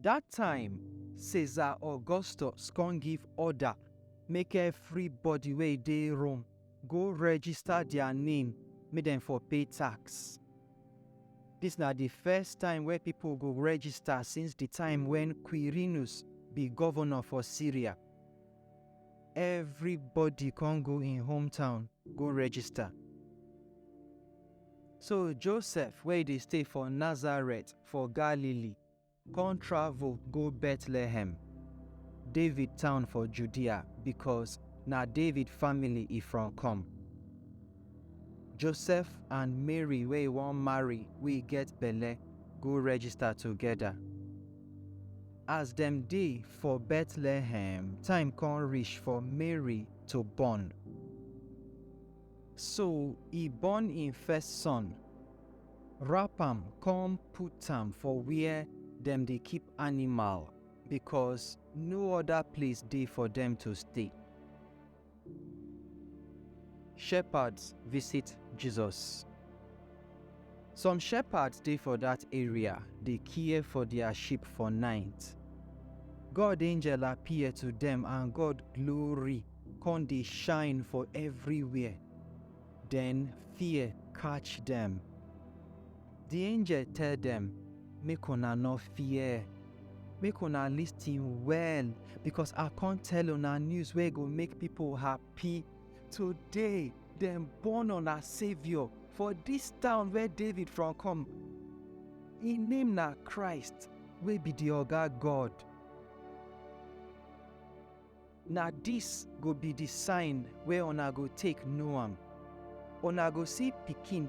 Dat time, Caesar Augustus kon give orda make evribody wey dey Rome go register dia name make dem for pay tax. Dis na di first time wey pipo go register since di time wen Quirinus bi govnor for Syria. Evribody kon go im hometown go register. So Josef, wey dey stay for Nazaret for Galilee, kon travel go Betlehem, David town for Judea, bikos na David family e from kom. Josef and Mary wey e won marry we get belle go register togeda. As dem dey for Betlehem, time kon rish for Mary to born. So e born im first son, wrap am come put am for where dem dey keep animal because no other place dey for dem to stay. Shepherds visit Jesus. Some shepherds dey for that area dey care for their sheep for night. God angel appear to dem and God glory con dey shine for everywhere. Den fear catch dem. Di angel tell dem, Make una nor fear. Make una listin well, becos I con tell una news wey go make pipo happy. Today, dem born una Saviour for dis town where David from come. Im name na Christ, wey be di Oga God. Na dis go be di sign wey una go take know am, Una go see pikin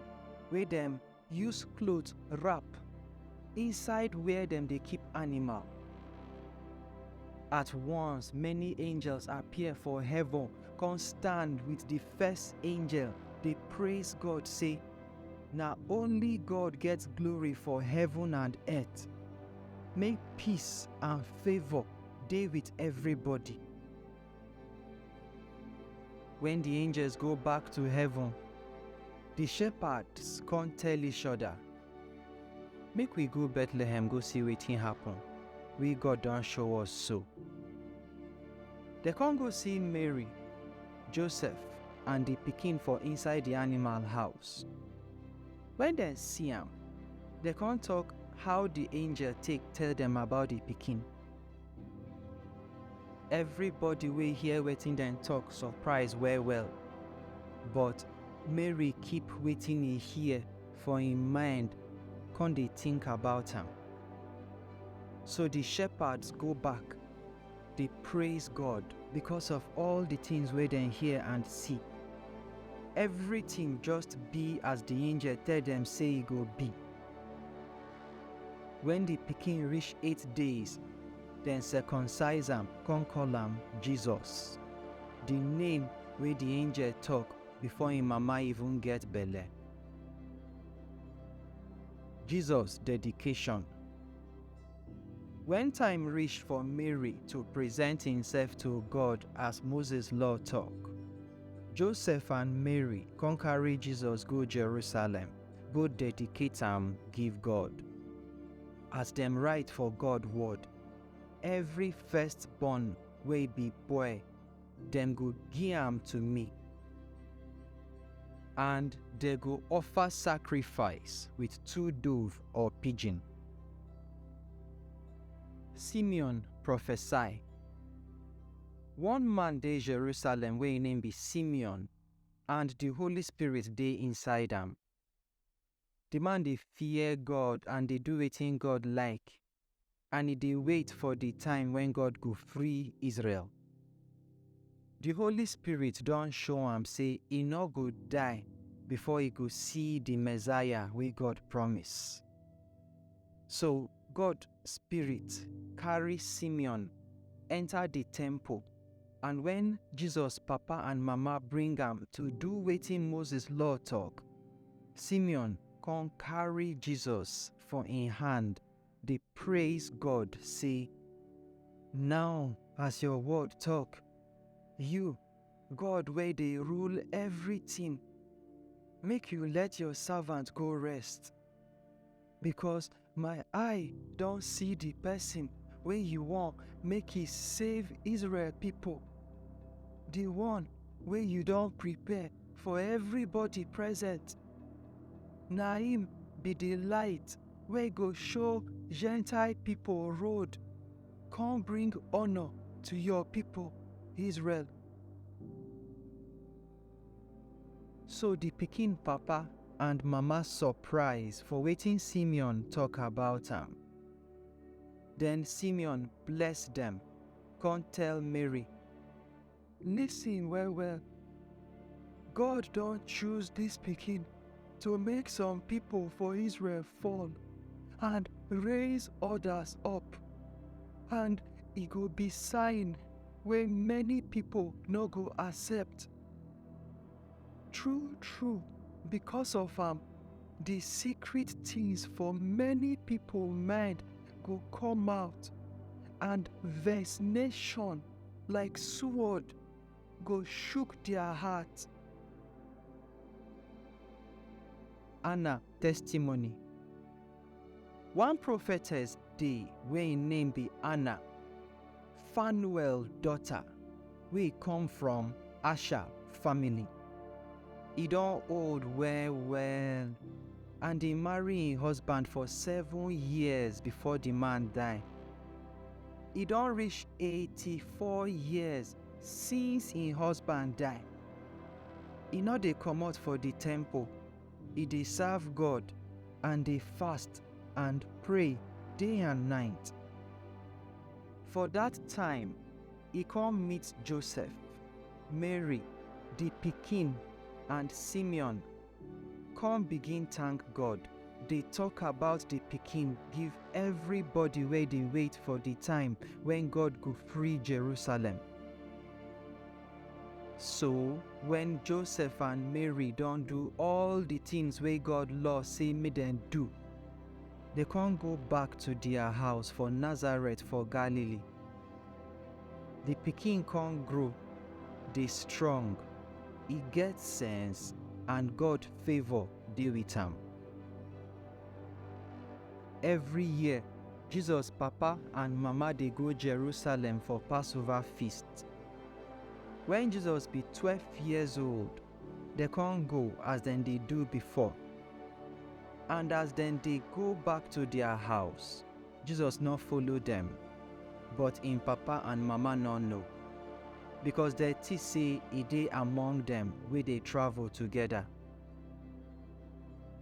wey dem use cloth wrap inside where dem dey keep animal. At once, many angels appear for heaven come stand with di first angel dey praise God say, Na only God get glory for heaven and earth. Make peace and favour dey with everybody. When the angels go back to heaven, the shepherds come tell each other, Make we go Bethlehem go see wetin happen, wey God don show us so. Dem come go see Mary, Joseph, and the pikin for inside the animal house. When dem see am, dem come talk how the angel take tell dem about the pikin. Everybody wey hear wetin dem talk surprise well well, but Mary keep wetin e hear for im mind come dey think about am. So the shepherds go back dey praise God because of all the things wey dem hear and see. Everything just be as the angel tell dem say e go be. Wen di pikin rish eight days, dem circumcise am kon koll am Jesus, di name wey di angel tok before en mama even get belle. Jesus dedication. Wen time rish for Mary to present imsef to God as Moses Law tok, Joseph and Mary kon karry Jesus go Jerusalem. go dedicate am give God. As dem write for God word, every firstborn wey be boy, dem go give am to me. And they go offer sacrifice with two dove or pigeon. Simeon prophesy. One man dey Jerusalem wey im name be Simeon, and di Holy Spirit dey inside am. Di man dey fear God and dey do wetin God like, and e dey wait for di time wen God go free Israel. Di Holy Spirit don show am sey e no go die before e go see di Messiah wey God promise. So, God spirit carry Simeon enter the temple and when Jesus papa and mama bring am to do wetin Moses law talk, Simeon come carry Jesus for im hand dey praise God say, Now as your word talk, you God wey dey rule everything, make you let your servant go rest because My eye don see the person wey you wan make he save Israel people, the one wey you don prepare for everybody present. Na him be the light wey go show Gentile people road, come bring honor to your people Israel. So di pikin papa and mama surprise for wetin Simeon tok about am. Den Simeon bless dem, kon tell Mary, Listen well-well, God don choose dis pikin. to make some people for Israel fall and raise others up. And it go be sign where many people no go accept. True, true, because of am, um, the secret things for many people mind go come out and vexation like sword go shook dia heart. Anna testimony. One prophetess dey wey im name be Anna, Fanuel daughter, wey come from Asher family. E don old well well and e marry im husband for seven years before di man die. E don reach eighty four years Since im husband die, e no dey comot for di temple, e dey serve God and dey fast and pray day and night. For dat time, e come meet Joseph, Mary, di pikin, and Simeon. Come begin thank God, dey talk about the pikin give everybody wey dey wait for the time when God go free Jerusalem. So, when Joseph and Mary don do all the things wey God law say make dem do, they come go back to their house for Nazareth for Galilee. Di pikin kon grow, dey strong, e get sense, and God favor dey with am. Evry year, Jesus papa and mama dey go Jerusalem for Passover feast. Wen Jesus be twelve years old, dem kon go as dem dey do before. And as dem dey go back to dia house. Jesus nor follow dem, but im papa and mama nor know, becos dem tink sey e dey among dem wey dey travel togeda.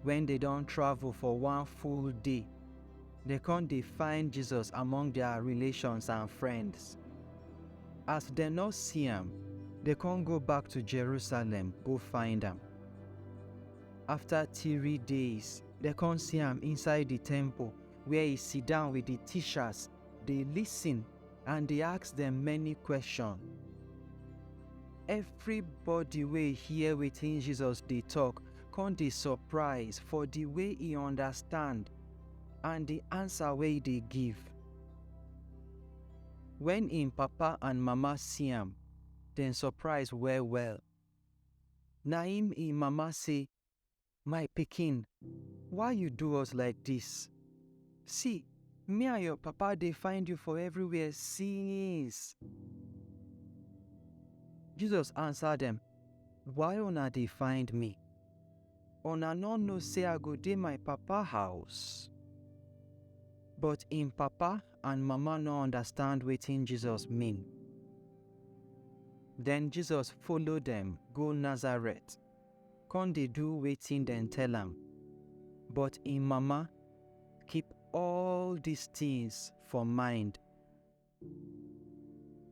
Wen dem don travel for one full day, dem con dey find Jesus among dia relations and friends. As dem nor see am, dem con go back to Jerusalem go find am. Afta tiri days, dem con see am inside di temple, where e sidan with di tishas dey lisin and dey ask dem many kweshon. Evribodi wey hear wetin Jesus dey tok kon dey sopraiz for di way e undastand and di ansa wey e dey give. Wen en papa and mama si am, dem sopraiz well-well. Naim en mama sey, My pikin, why you do us like dis? See, me and your papa dey find you for everywhere since. Jesus answer dem, Why una dey find me? Una no know say I go dey my papa house? But im papa and mama no understand wetin Jesus mean. Then Jesus follow dem go Nazareth. kon dey do wetin dem tell am. But im mama keep all dis tins for mind.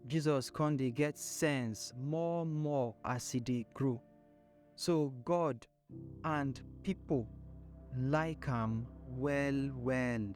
Jesus kon dey get sense more-more as e dey grow. So God and pipol like am well-well.